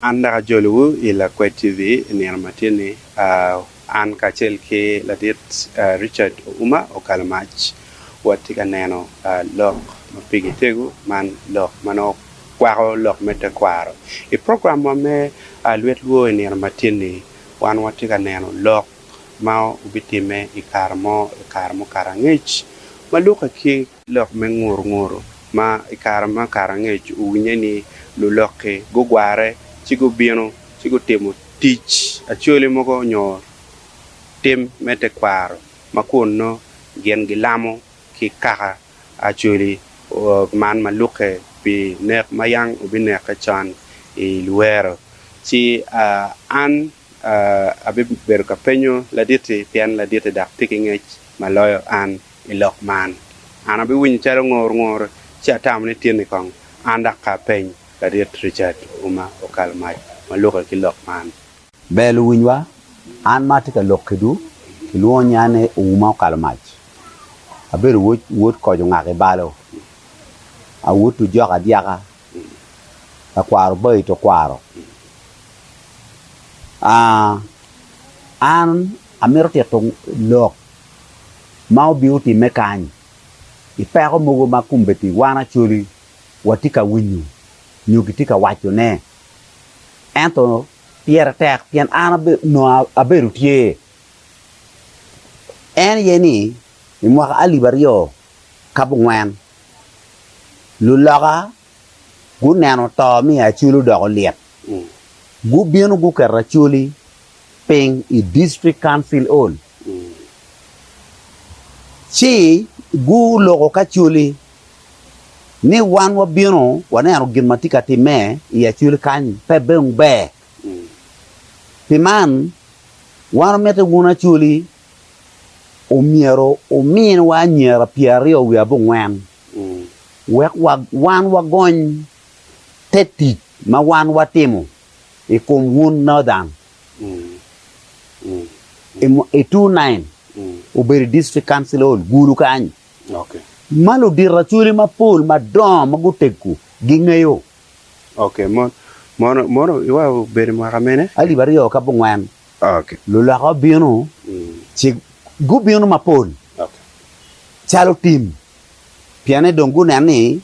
An dok ajolowu i Lakwed TV i nino ma tye-ni. An kacel ki Ladit Richard Ouma Okalo Mac watye ka neno lok ma pigi tego man lok ma nongo kwako lok me tekwaro. I programwa me Lwet Lwo i nino ma tye-ni, wan watye ka neno lok ma obitimme i kare mo i kare mukato angec ma lukke ki Lok me ngurnguru ma i kare ma Karangec owinye ni lulokke gugware ci gubino ci gutimo tic acholi mogo nyo tim me tekwaro ma kun nongo gin gilamo ki kaka acholi man ma lukke pi nek ma yam obinekke con i lwero. Ci an abibedo ka penyo laditi pien laditi dok pe kingec ma loyo an. I lok man, an abiwinyo calo ngor ngor ci atamo ni tinni kong an dok ka apeny Laryet Richard Ouma Okal mac ma lukke ki lok man. Ber luwinywa, an ma atye ka lok kedwu kilwongo nya ni Ouma Okal mac. Abedo wod wod koc ongak I balo. Awod ojok adyaka, lakwaro obayi to kwaro. Aa, an amito tito lok ma obino timme kany. I peko mogo ma kombeddi wan Acholi watye ka winyo nyo gitye ka wacone, ento pire tek pien an onongo abedo tye. En aye ni i mwaka alip aryo kabongwen, luloka guneno to me Acholi odoko lyet, gubino guketo Acholi piny i District Council Hall. Ci guloko kacoli ni, Wan wabino waneno gin ma tye ka timme i acoli kany, pe dong ber. Pi man, wan wamiti wun acoli omyero wuminwa anyira pyeraryo wiye abongwen, wek wan wagony te tic ma wan watimo i kom wun Northern. I two nine obedo i district council hall gulu kany ma ludito acholi mapol madongo ma guteggu gingeyo. Mono obedo mwaka mene? Alip aryo ki abongwen luloka obino ci gubino mapol calo tim pienni dong guneno ni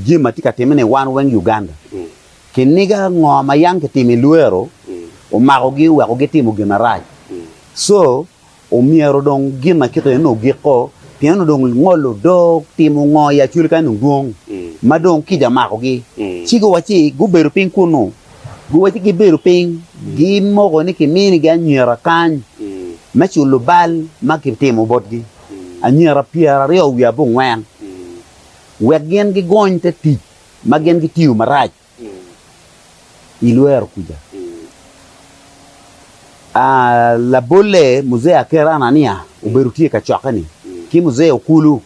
jami ma tye ka timme ni wan weng Uganda ki niga ngo ma yam ki timo i lwero omakogi oweko gi timo gin ma rac so omyero dong gin ma kit eni ogik ko pien onongo dong ngolo odoo timo ngo i Acholi kany dong dwong ma dong kica omakogi ci guwac ci gubedo piny kunnu guwac ci gibedo piny gimoko ni ki mini gi anyira kany me culo bal ma ki timo botgi. anyira pyeraryo wiye abongwen, wek gin gigony te tic ma gin gitiyo marac i lwero kuca. Labolle Muzee Aker Anania obedo tye i kacokke-ni ki Muzee Okulu.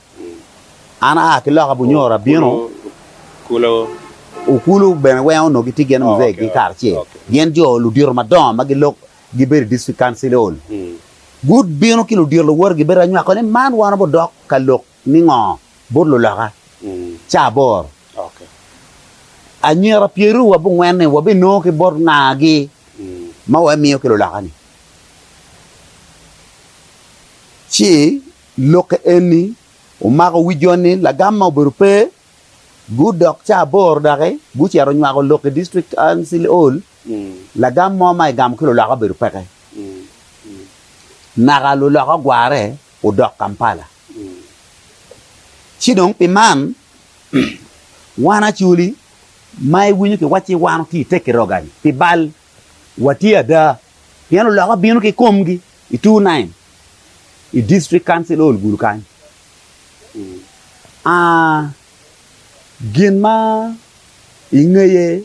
An aa ki loka Bunyoro abino. Okulu bene weng onongo gitye gin i Muzee-gi kare acel. Gin jo ludito madongo ma gilok gibedo i District Council Hall, gubino ki ludito luwote gibedo ka nywako ni man wan wabidok ka lok ningo bot luloka caa aboro. Anyira pyeruryo wa bungwen-ni wabinongo ki bot nga gi ma wamiyo ki luloka-ni? Ci lokke eni omako wi jo ni lagam ma obedo pe, gudok caa aboro doki gucito nywako lok i District Council Hall. Lagam mo ma egamo ki luloka obedo peke. Naka luloka ogware odok Kampala. Ci dong pi man, wan Acholi ma iwinyo kiwacci wan otye i Tekiroga-ni pi bal, watye ada pien luloka bino ki komgi i two nine i District Council Hall Gulu kany. Aa, gin ma ingeye.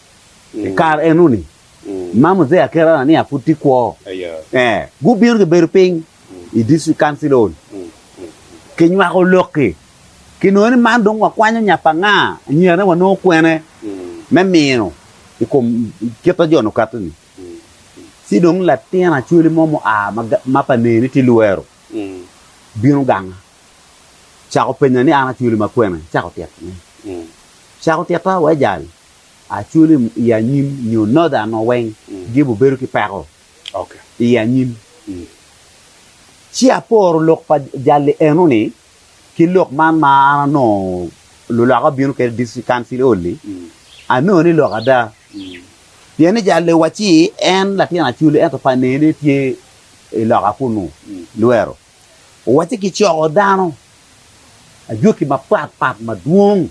I kare eno-ni, ma Muzee Akera Anania pud tye kwo, gubino gibedo piny i District Council Hall kinywako lok-ki. Kinongo ni man dong wakwanyo nya pa nga, anyirane wanongo kwene me mino i kom kit ma jo-ni okato-ni. Ci dong latin acwali mo mua ma pa neye ni tye Luero bino ganga, cako penya ni, 'An acwali ma kwene icako titone? Cako tita wai jal? Aculim i anyim nyo Northern o weng gibu bedo ki peko i anyim. Ci aporo lok pa jalli eno ni ki lok man ma an anongo luloka bino kede District Council Hall ni anongo ni lok ada pien ni jalli wa ci en latin Acholi ento pa nene tye i loka kunu Luero. Owacci kicoko dano ajwaki mapat pat madwong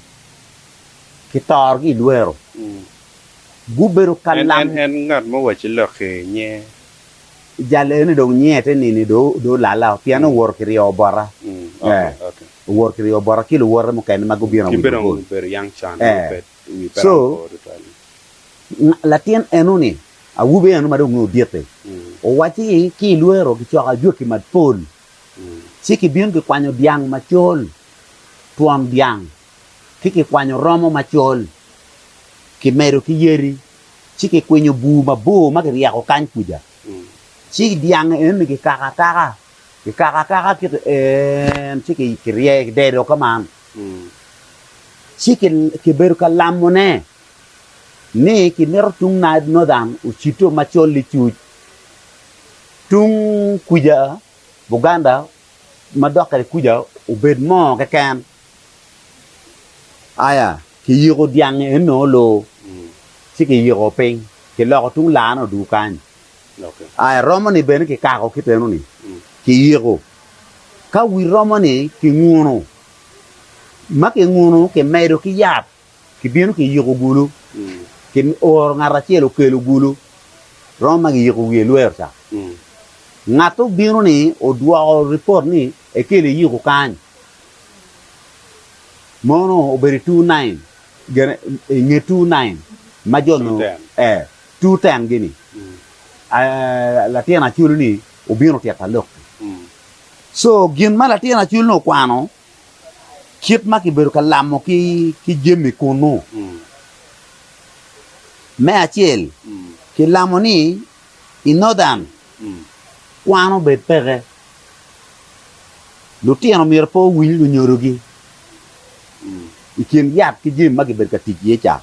kitorogi i lwero, gubedo ka lam. En ngat ma owacci lok-ki nye. Jal eni dong nyiye te nini dong olalla pien owoto ki ryeyo bota. Owoto ki ryeyo bota ki luwote mukene ma gubino awic mabor. Ki bene obedo young child. Co latin eno-ni, awobi eno ma dong nongo odit-ti, owacci ni ki i lwero kicoko ajwaki mapol, ci kibino kikwanyo dyang macol, twon dyang, ki kikwanyo romo macol, kimedo ki yadi, ci kikwinyo bur mabor ma kiryeko kany kuca, ci dyang eno-ni kikako akaka. Kikako akaka ki to en, ci kirye ki dedo ka man, ci kibedo ka lamone ni kimito tung Naib Northern ocito macol licuc, tung kuca Buganda ma dok kwede kuca obed mo keken. Aya, kiyiko dyang enno loo ci kiyiko piny, kiloko tung laane oduu kany. I romo ni bene kikako kit eno ni kiyiko ka wi romo ni kinguno ma kinguno kimedo ki yat kibino kiyiko gulu ki oro ngat acel okelo gulu romo ma kiyiko wiye lwer ca ngat obino ni odwoko report ni ekelo iyiko kany mono obedo two nine gene nge two nine ma jo nongo eh. two ten gini latin aculu ni obino tyeka lok ni so gin ma latin aculu ni okwano kit ma kibedo ka lamo ki jami kunu me acel ki lamo ni i northern kwano bed peke lutino myero pe owiny lunyodo gi i kin yat ki jami ma kibedo ka tic iye ca.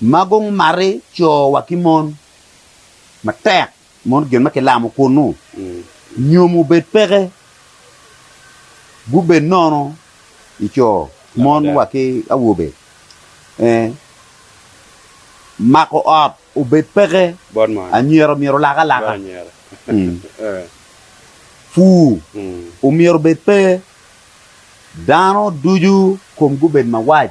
ma gumati co wa ki mon matek mono gin ma kilamo kunu nyom obed peke gubed nono i co mon wa ki awobe eh mako ot obed peke anyira myero olak alaka pur omyero obed pe dano ducu kom gubed mawac.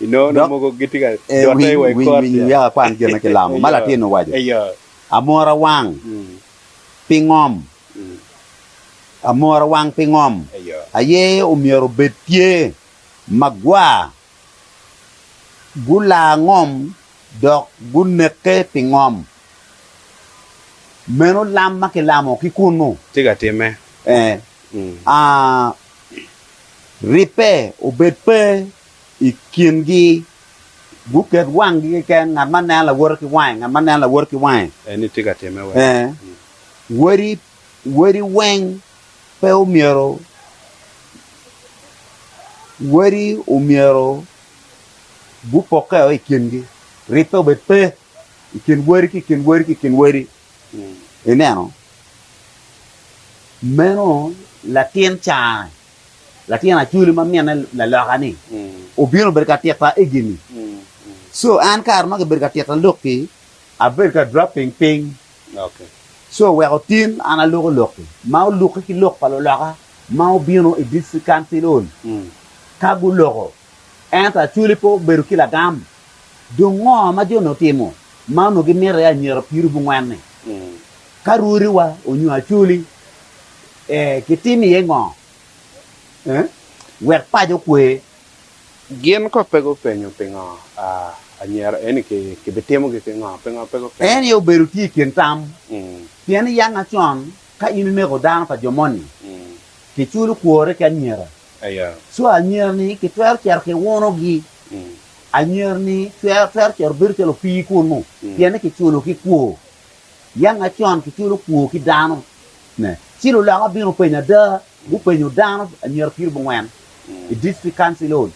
Dok ewiny wiya akwan gin ma kilamo. Ma latin owaco, Amora wang pi ngom? Amora wang pi ngom? Aye omyero obed tye magwar. Gulaa ngom dok guneke pi ngom. Meno lam ma kilamo ki kunu. Tye ka timme. Ee. Aa, ribbe obed pe i kingi, guket wanggi keken, ngat ma neno lawote ki wange, ngat ma neno lawote ki wange. En ni tye ka timme wek. Ee, wodi, wodi weng pe omyero, wodi omyero gupokkeo i kingi, ribbe obed pe i kin wodi ki i kin wodi ki i kin wodi. Mm. Ineno? Meno latin cane Latin acwele ma minne laloka-ni obino bedo ka tita egini. So an kare ma kibedo ka tita lok-ki, abedo ka dropping piny. So wek otin an aloko lok-ki ma olukke ki lok pa luloka ma obino i District Council Hall. Ka guloko, Ento Acholi pe obedo ki lagam. Dong ngo ma jone otimo ma onongo gimito i anyira piri bungwen-ni? Ka rwodiwa onyo Acholi, kitim iye ngo wek paco okwe? Gin kong pe gupenyo pingo anyira eni kibitimogi ki ngo. Pingo pe gupenyo? En aye obedo tye i kin tam. Pien i yanga con, ka in ineko dano pa jo moni, kiculo kwore ki anyira. Co anyira-ni kitwero cito ki wunogi, anyira-ni twero cito bedo calo opii kunnu, pien ni kiculo ki kwo. Yam macon kiculo kwo ki dano, ci luloka bino penyo ada, gupenyo dano anyira piribongwen i District Council Hall.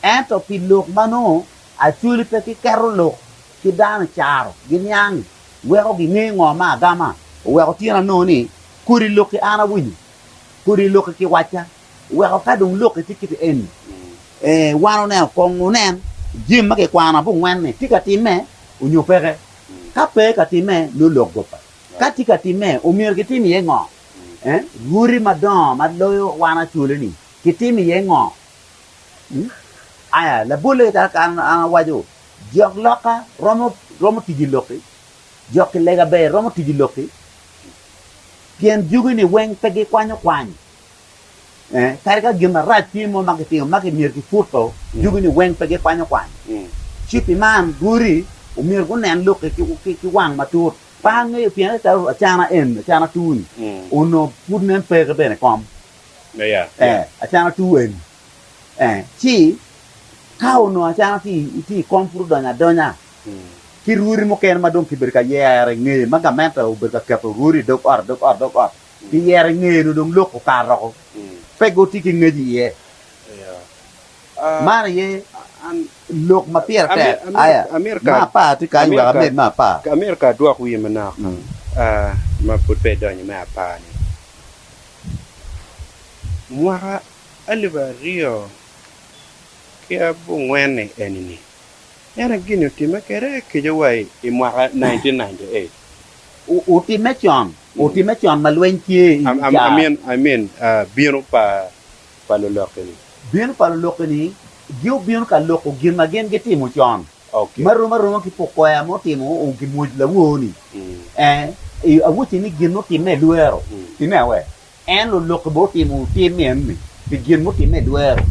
Ento pi lok ma nongo Acholi pe kiketo lok ki dano i caro giniang weko ginge ngo ma agama oweko tyen anongo ni kodi lok ki an awinyo. kodi loki ki wacca, weko ka dong loki tye kit eni, ee, wan oneno kong wunen jami ma kikwano abongwen-ni tye ka timme onyo peke. Ka pe ka timme, nongo lok gobba. Ka tye ka timme, omyero kitim iye ngo? Ee, rwodi madongo ma loyo wan acoloni kitimo iye ngo? Ii, Aya, labolle kit kaka an awaco, jok loka romo, romo tijo i loki, jok kilega ber romo tijo i loki. Pien jugi-ni weng pe gikwanyo kwany, ee, kadi ka gin marac tye mo ma gitimo ma myero kiputo, jugi-ni weng pe gikwanyo kwany. Ci pi man, godi omyero gunen lok-ki ki wang matut. Pe angeyo pien ento calo acana eni, acana atur-ni, onongo pud nen peke bene i kom, ee, acana atur eni. Ci ka onongo acana tye i kom pud odonyo adonya ki rwodi mukene ma dong kibedo ka yero i ngeye, ma gamente obedo ka keto rwodi i dog ot, dog ot, dog ot, kiyero i ngeye nyo dong lok okato woko, pe gitye ki ngec iye. Man aye lok ma pire tek. Aya, me apar tye kany wek amed me apar. Amito ka adwok wiye manok ma pud pe idonyo me apar-ni. Mwaka. alip aryo ki abongwen-ni eni-ni, en aye gin-ni otimme kwede kica wa i mwaka 1998. Otimme con, otimme con ma lweny tye i wi caro. I mean, bino pa lulokke-ni. Bino pa lulokke-ni giobino ka loko gin ma gin gitimo con, ma rom aroma ki pok kwea ma otimo gimwoc lawor-ni. Ee, awocci ni gin-ni otimme i lwero. Timme awe? En olokke bene otimo tim enoni pi gin mutimme i dwero.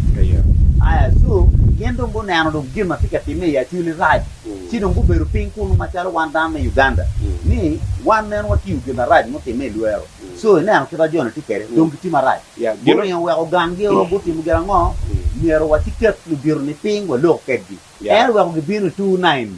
Aya cu, gin dong guneno dong gin ma tye ka timme i Acholi rac, ci dong gubedo piny kunu macalo wan dano me Uganda ni wan meno watiyo gin marac mutimme i dwero. Co, ineno kit ma jo-ni tye kwede, dong gitye marac. Guringo weko gangio, gutimo gin ango? Myero waciket ludito-ni piny walok kwedgi. En oweko gibino i tur Nain-ni.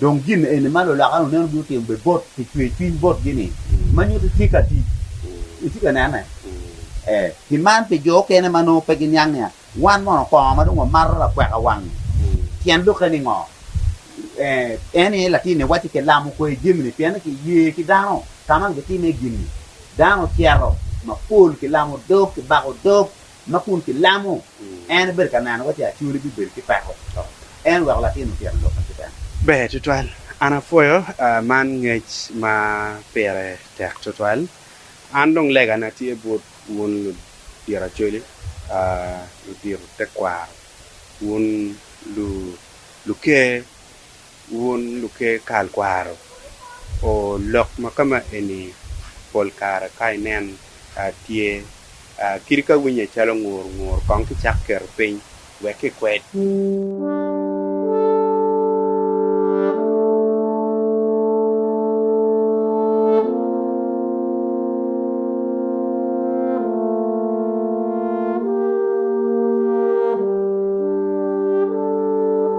Dong gin eni ma luloka-ni oneno ni otimo bene bot pi cwercwiny botgi-ni, ma nyuto tye ka tic. Itye ka nene? Ee. Pi man, pi jo okene ma nongo pe giniang nia, wan mono kongo ma dong wamato lakweka wang-ngi? Tyen lokke ni ngo? Ee, en aye latinni wacci kilamo kwer jami-ni pienni kiye ki dano. Ka man gitime gin-ni, dano cito mapol, kilamo dog, kibako dog, Ma kun kilamo en ebedo ka nenowa ci Acoli bibedo ki peko. En oweko latin otyen lubbe ki bene. Ber tutwal. An apwoyo man ngec ma pire tek tutwal. An dong legana tye bot wun ludito Acoli, ludito tekwaro, wun luker Wun luker kal kwaro, o lok ma ka ma eni pol kare ka inen a tye a kidi ka winye calo ngur ngur kong ki cak keto piny wek ki kwed.